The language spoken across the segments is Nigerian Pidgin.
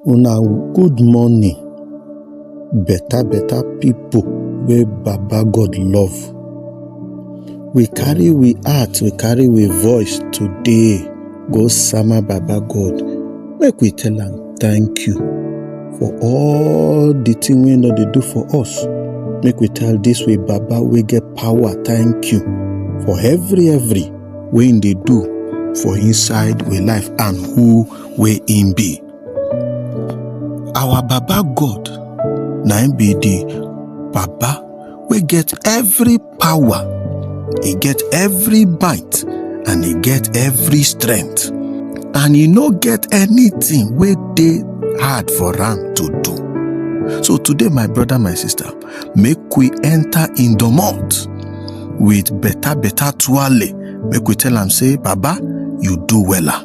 una good morning better better people wey baba god love we carry we heart we carry we voice today go sama baba god make we tell am thank you for all the thing wey no dey do for us make we tell this way baba wey get power thank you for every every wey him dey do for inside we life and who wey im be our baba god na im be the baba wey get every power e get every might and e get every strength and e no get anything wey dey hard for am to do so today my brother my sister make we enter in the mouth with better better tuale make we tell am say baba you do wella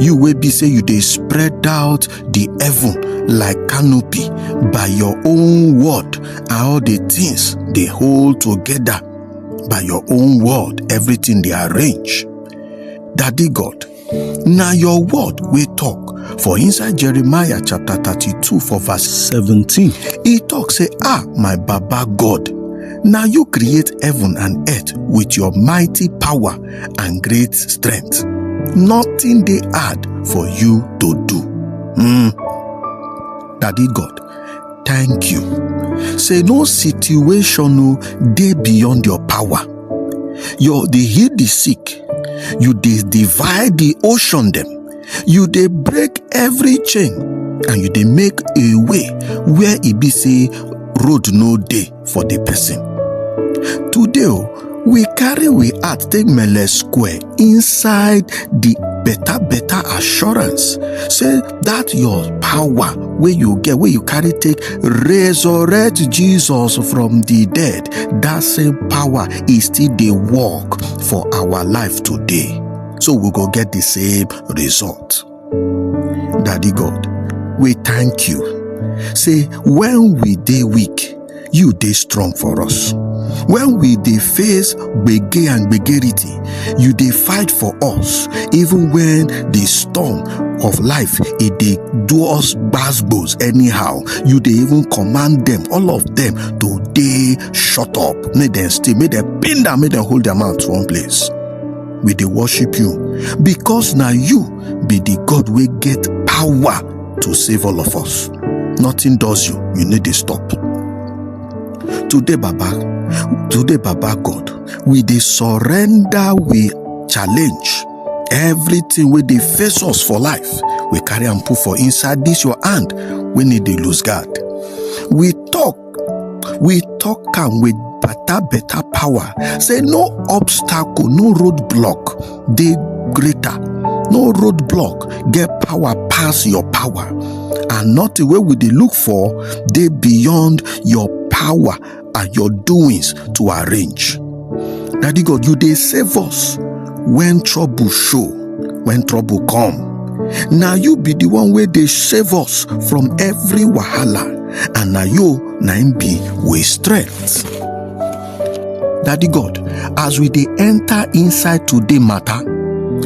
you wey be say you dey spread out the heaven like canopy by your own word and all the things dey hold together by your own word everything dey arrange daddy god na your word wey talk for inside jeremiah chapter 32 for verse 17 e talk say ah my baba god na you create heaven and earth with your mighty power and great strength. Nothing dey hard for you to do. Mm. Daddy God, thank you. Say no situation o dey beyond your power. You dey heal the sick. You dey divide the ocean dem. You dey break every chain and you dey make a way where e be say road no dey. for the person. Today, oh, we carry we heart take mele square inside the better better assurance say that your power wey you get wey you carry take resurrect jesus from the dead that same power e still dey work for our life today so we go get the same result Daddy God, we thank you. Say, when we dey weak, you dey strong for us. When we dey face gbege and gbegerity, you dey fight for us. Even when the storm of life e dey do us gbasgbos anyhow, you dey even command them, all of them, to dey shut up. Make them stay, make them pin down, make them hold their mouth one place. we dey worship you because na you be the God wey get power to save all of us. Nothing does you, you no dey stop. Today, Baba, today, Baba God, we dey surrender, we challenge everything wey dey face us for life. We carry am put for inside this your hand wey need dey lose guard. We talk we talk am with better better power say no obstacle no road block dey greater no road block get power pass your power and nothing wey we dey look for dey beyond your power and your doings to arrange Daddy God, you dey save us when trouble show, when trouble come. Na you be the one wey dey save us from every wahala, and na you na im be we strength. Daddy God, as we dey enter inside today matter,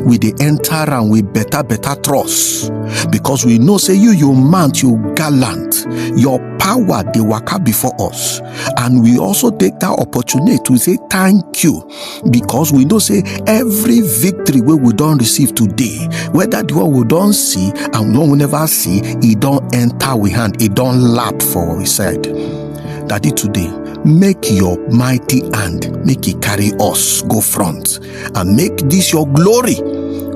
we dey enter am with better better trust because we know say you you mount you gallant your power dey waka before us and we also take that opportunity to say thank you because we know say every victory wey we don receive today whether the one we don see and the one we never see e don enter we hand e don lap for we side daddy today make your mighty hand make e carry us go front and make this your glory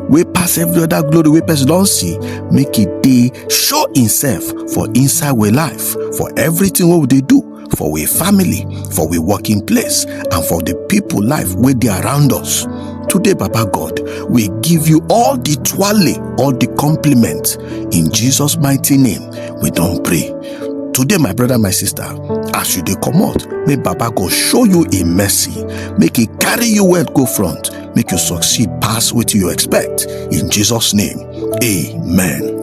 wey pass every other glory wey person don see make e dey show himself for inside we life for everything wey we dey do for we family for we working place and for the people life wey dey around us today baba god we give you all the twale all the compliment in jesus mighty name we don pray today my brother my sister as you dey comot make baba go show you im mercy make e carry you well go front make you succeed pass wetin you expect in jesus name amen.